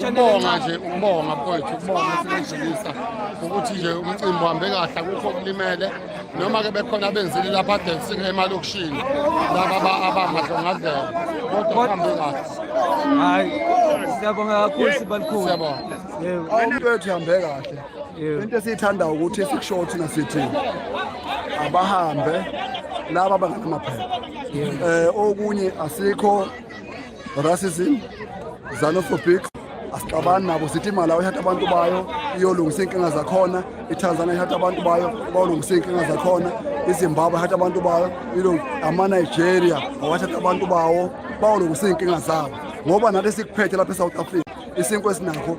ukubonga nje ukubonga mfowethu ukubonga sinedlulisa ukuthi nje umcimbi uhambe kahle akukho okulimele noma-ke bekhona abenzile lapha adensike emalokishini laba abangadlongadlela kodwa kuhambe kahle hayi siyabonga kakhulu sibalikhulu siyabonga umuntu wethu hambe kahle into esiyithanda ukuthi sikushoyo thina sithi abahambe laba bangenamaphepha um okunye asikho racism xenophobic asixabani nabo sithi imalawi ithatha abantu bayo iyolungisa iy'nkinga zakhona itanzania ithatha abantu bayo bayolungisa iy'nkinga zakhona izimbabwe ithatha abantu bayo amanigeria awathatha abantu bawo bayolungisa iy'nkinga zabo ngoba nathi sikuphethe lapha e-south africa isinkwa esinakho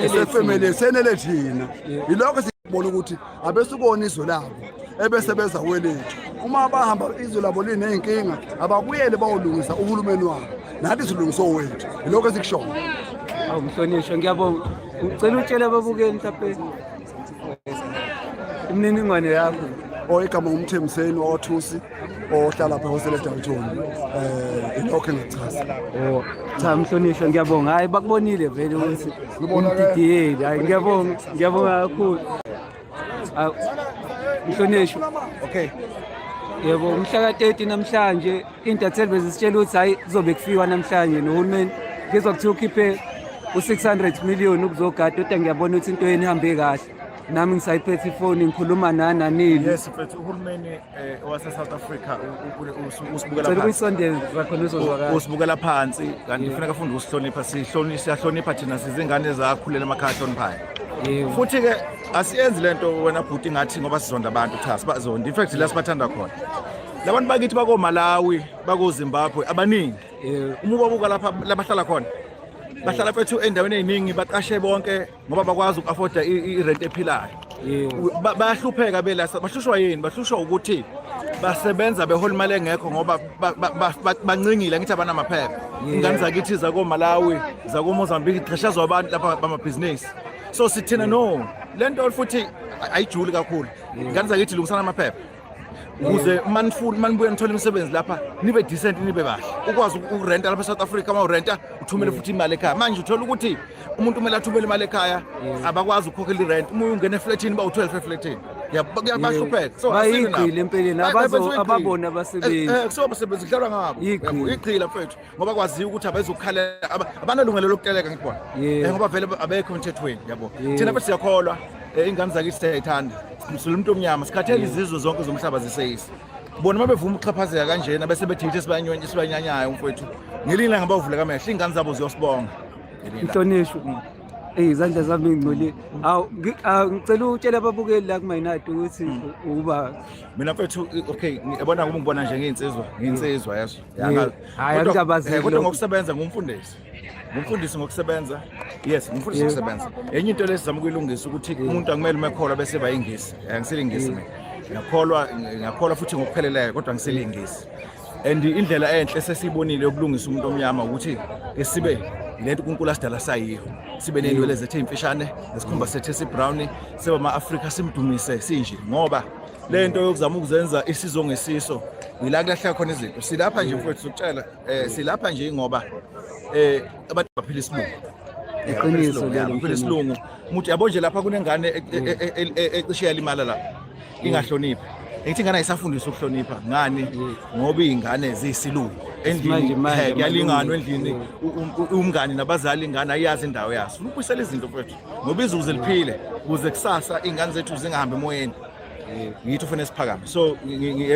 esefemeli senele thina yilokho bona ukuthi abesukona izwe labo ebese beza kwelethu uma bahamba izwe labo liney'nkinga ababuyele bawolungisa uhulumeni wabo nathi silungise owethu yilokho esikushoyo awu mhlonishwa ngiyabonga ngicela utshela ababukeli mhlawumpe imininingwane yakho oyigama ngumthembiseni wathusi ohlala pha hosele Dalton eh ilokho engichaza oh cha mhlonishwa ngiyabonga hayi bakubonile vele ukuthi umdidiyeli hayi ngiyabonga ngiyabonga kakhulu mhlonishwa okay yebo umhla ka-30 namhlanje intatheli bezisitshela ukuthi hhayi kuzobe kufiwa namhlanje nohulumeni ngizwa kuthiwa ukhiphe u-600 million ukuzogada kodwa ngiyabona ukuthi into yeni ihambe kahle nami ngisayiphethe ifoni ngikhuluma nananini yes mfethu uhulumeni Eh, owase South Africa usibukela phansi usibukela phansi kanti kufuneka afunde ukusihlonipha sihlonipha siyahlonipha thina sizingane zakhulela emakhaya ahloniphayo futhi ke asiyenzi lento wena bhuti ngathi ngoba sizonda abantu cha sibazonda in fact la sibathanda khona labantu bakithi bako Malawi bako Zimbabwe abaningi uma ubabuka lapha labahlala khona bahlala fethu endaweni eziningi baqashe bonke ngoba bakwazi uku-afforda irenti ephilayo bayahlupheka belasa bahlushwa yini bahlushwa ukuthi basebenza behola imali engekho ngoba bancingile ngithi abanamaphepha ingane zakithi zakomalawi zakomozambique qhashazwa abantu lapha bamabhizinisi so sithina no le nto futhi ayijuli kakhulu ingane zakithi lungisana amaphepha ukuze uma nifuna uma nibuye nithole imisebenzi lapha nibe decent nibe kahle ukwazi ukurenta lapha e-south africa uma urenta uthumele futhi imali ekhaya manje uthola ukuthi umuntu kumele athumele imali ekhaya abakwazi ukukhokhela irent uma uyungena efletini uba u-12 efletini bayahlupheka so bayigqile empeleni ababona abasebenzi eh, eh, kusebasebenzi kudlalwa ngabo igqile mfethu ngoba kwaziwa ukuthi abezokukhalela abanalungelo lokuteleka ngibona eh, ngoba vele abekho emthethweni yabo thina bese siyakholwa eh, ingane zakithi siyayithanda simsula umuntu omnyama sikhathele izizwe zonke zomhlaba ziseyisi bona uma bevuma ukuxhaphazeka kanjena bese bethithe esibanyanyayo umfowethu ngelinye ilanga bawuvule kamehlo iy'ngane zabo ziyosibonga inhlonishwa mm. eyi izandla zami ngingcolile awu ngicela utshela ababukeli la kumayinati ukuthi mm. uba mina mfethu okay yabona kuba ngibona nje ngiynsizwa ngiynsizwa yaso Yanga- Hhayi, kodwa- angikabazeki eh, kodwa lokho. ngokusebenza ngumfundisi ngumfundisi ngokusebenza yes ngumfundisi Yebo. ngokusebenza enye into lesizama ukuyilungisa ukuthi umuntu akumele uma ekholwa bese bayingisi Eh, ngisilingisi mina ngiyakholwa ngiyakholwa futhi ngokupheleleyo kodwa ngisilingisi and indlela enhle sesiyibonile yokulungisa umuntu omnyama ukuthi ke sibe yilento unkulunkulu asidala sayiyo sibe ney'nwele zethu ey'mfishane nesikhumba sethu esibrown sibe ama-afrika simdumise sinje ngoba le nto yokuzama ukuzenza isizo ngesiso ngila kulahla khona izinto silapha nje mfowethu sokutshela um silapha nje ngoba um abantu baphila isilungu iqiniso lelo phela isilungu muthi yabo nje lapha kunengane e- e- mm. e- e- e- ecishe yalimala la mm. ingahloniphi ngithi ingane ayisafundiswa ukuhlonipha ngani mm. ngoba iy'ngane ziyisilungu endlini kuyalinganwa endlini umngani nabazali ingane ayiyazi indawo yaso ukubuyisela izinto fethu ngoba izuze liphile kuze kusasa iy'ngane zethu zingahambi emoyeni ngithi ufune siphakame so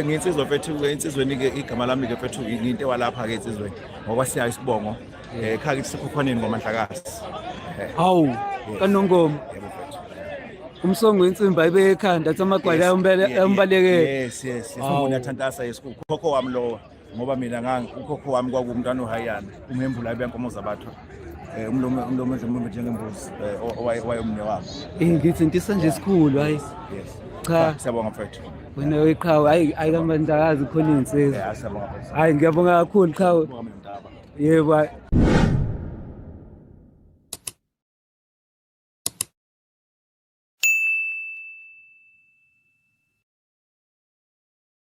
nginsizwa mfethu ensizweni-ke igama lami-ke mfethu ngiyinto ewalapha-ke ensizweni ngoba siyayo isibongo um eh, khake sisekhokhwaneni ngomanhlakazi eh. hawu kanongoma umsongo wensimbi ayibe ekhanda athi amagwala ayombalekela yes yes yes umuntu athantasa yes ukhokho wami lowa ngoba mina ngangi ukhokho wami kwakuwumntwana ohayana umhembula ibenkomo zabathu eh, umlomo umlomo umlomo njengembuzi eh, owayomne wabo eh ngithi ntisa nje esikhulu hayi yes cha siyabonga mfethu wena weqhawe hayi hayi kamandakazi khona insizwa eh, siyabonga mfethu hayi ngiyabonga kakhulu qhawe yebo